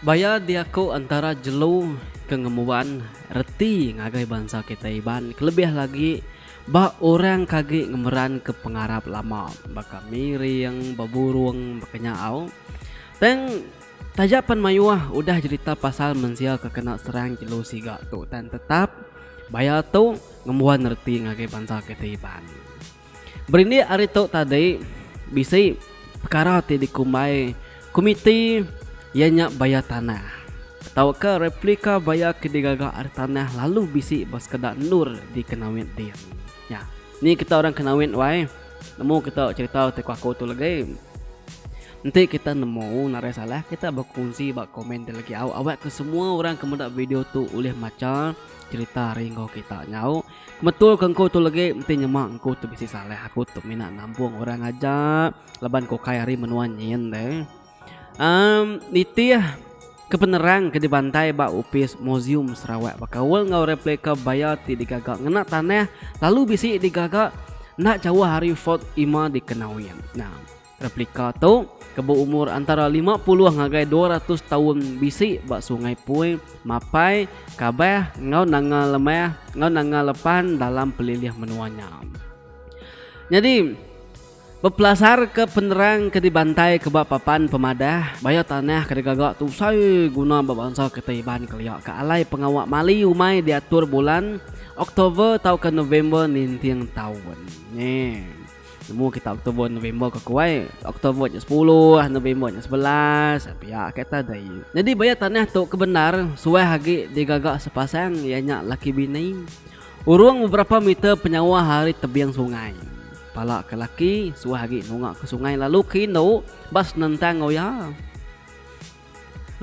Baya diaku antara jelu ke ngembuan reti ngagai bansa kitai Iban kelebih agi ba orang ke agi ngemeranka pengarap lama baka miring, beburung baka nyaau tang. Taja pen mayuh udah jerita pasal mensia ke kena serang jelu siga tu tan tetap baya tu ngembuan reti ngagai bansa kita Iban. Berindik ari tu tadi bisi pekara ti dikumbai komiti iya nya baya tanah tauka replika baya ke digaga ari tanah lalu bisi ba sekeda endur di Kenawit din. Nya. Ni kita orang Kenawit wai. Nemu kita cerita ti kuaku tu legi. Enti kita nemu narai salah kita bekunsi ba komen ti legi au awak ke semua orang ke meda video tu ulih macha cerita ari enggau kita nyau. Metul ke engku tu legi enti nyema engku tu bisi salah aku tu mina nambung orang aja laban ku kai ari menua nyin deh. Um, nitih ke penerang ke dibantai ba opis Museum Sarawak bekaul enggau replika baya ti digaga ngena tanah lalu bisi digaga enda jauh ari Fort Ima di Kenawin. Nah, replika tu ke berumur antara 50 ngagai 200 taun bisi ba Sungai Pui, Mapai, Kabah enggau Nanga Lemah enggau Nanga Lepan dalam pelilih menua nya. Nyadi, Bepelasarka penerang ke dibantaika ba papan pemadah, bayau tanah ke digaga tu besai guna ba bansa kita Iban kelia ke alai pengawa mali umai diatur bulan Oktober tauka November ninting taun. Nge. Nemu kita Oktober November ke ku ai, Oktober nya sepuluh, November nya sebelas, pia ke ta deh. Nyadi bayau tanah tu kebendar suah agi digaga sepasang iya nya laki bini. Urung beberapa meter penyauh ari tebing sungai, pala ke laki suah agi nunga ke sungai lalu ke indu ba senentang enggau iya.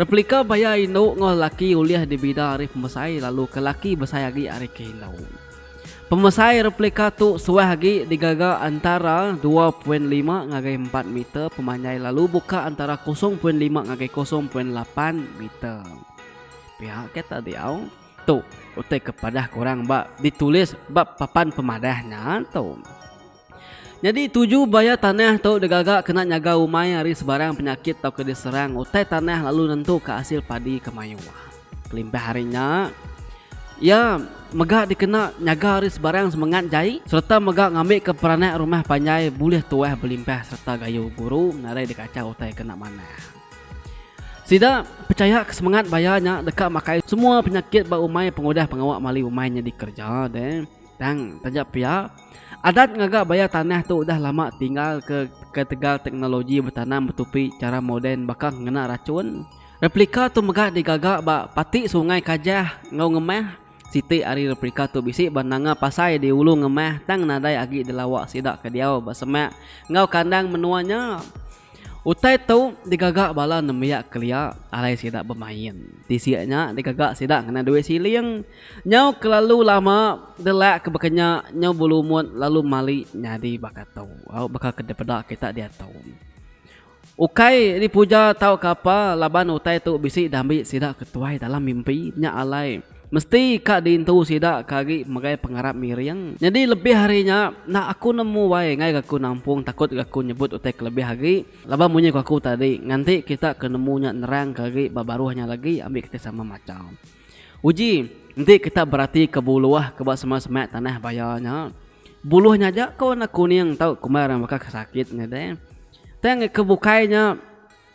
Replika baya indu enggau lelaki ulih dibida ari pemesai lalu ke laki besai agi ari ke indu. Pemesai replika tu suah agi digaga antara dua poin lima ngagai empat meter pemanjai lalu buka antara kosong poin lima ngagai kosong poin lapan meter. Pia ke ta diau. Tu utai ke padah kurang ba ditulis ba papan pemadah nya tu. Nyadi tuju bayar tanah tu digaga kena nyaga umai ari sebarang penyakit tauka diserang utai tanah lalu nentuka asil padi ke mayuh. Kelimpah ari nya, iya mega dikena nyaga ari sebarang semengat jai sereta mega ngambika peranak rumah panjai bulih tuah belimpah sereta gayu guru nadai dikachau utai kena manah. Sida pechaya ke semengat baya nya deka makai semua penyakit ba umai pengudah pengawa mali umai nya dikereja deh. Tang taja pia, adat ngaga baya tanah tu udah lama tinggal ke ketegal teknologi betanam betupi chara moden baka ngena rachun. Replika tu mega digaga ba pati Sungai Kajah enggau Ngemah. Siti ari replika tu bisi ba Nanga Pasai di Ulu Ngemah tang nadai agi dilawa sida ke diau ba semak enggau kandang menua nya. Utai tu digaga bala nembiak kelia alai sida bemain. Tisi nya digaga sida ngena duit siling. Nyau kelalu lama delak ke baka nya nyau belumut lalu mali nyadi baka tu. Au baka ke dipeda kita diatu. Ukai dipuja tauka apa laban utai tu bisi diambi sida ke tuai dalam mimpi nya alai. Mesti ka diintu sida ke agi megai pengarap miring. Nyadi lebih ari nya, enda aku nemu wai ngaika aku nampung takutka aku nyebut utai ke lebih agi laban munyi ku aku tadi, nganti kita ke nemu nya nerangka agi ba baruh nya lagi ambi kita sama macha. Uji, enti kita beratika buluh ke ba semak-semak tanah baya nya, buluh nya aja ke warna kuning tau kumbai orang baka ke sakit ngagai. Tang ke bukai nya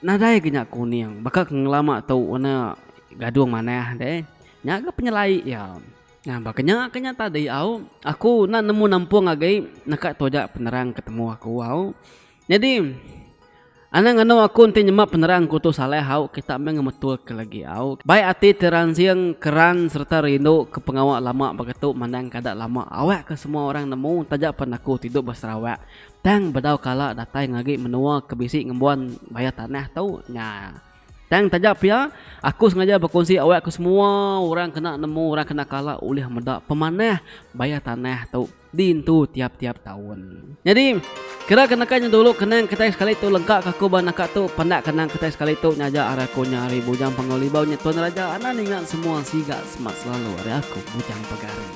nadai ga nya kuning baka ke ngelama tu warna gadung manah deh. Nya ga penyelai iya. Nah baka nya ke nya tadi au aku enda nemu nampung agi neka tu aja penerang ke temu aku au. Nyadi anang anu aku enti nyema penerang aku tu salah au kita meh ngemetulka lagi au. Bai ati ti ransing keran sereta rindu ke pengawa lama baka tu mandang kada lama awakka semua orang nemu taja pen aku ti duduk ba Sarawak. Tang bedau kala datai ngagi menua ke bisi ngembuan bayar tanah tu nya. Tang taja pia, aku sengaja bekunsi awak ke semua orang kena nemu orang kena kala ulih meda pemanah bayar tanah tu diintu tiap-tiap taun. Nyadi, kira ke naka nya dulu kenang kitai sekali tu lengka ke aku ba naka tu penda kenang kitai sekali tu nya aja ari aku nya ari Bujang Pengelibau nya Tuan Raja Anan ingat semua siga semak selalu ari aku Bujang Pegari.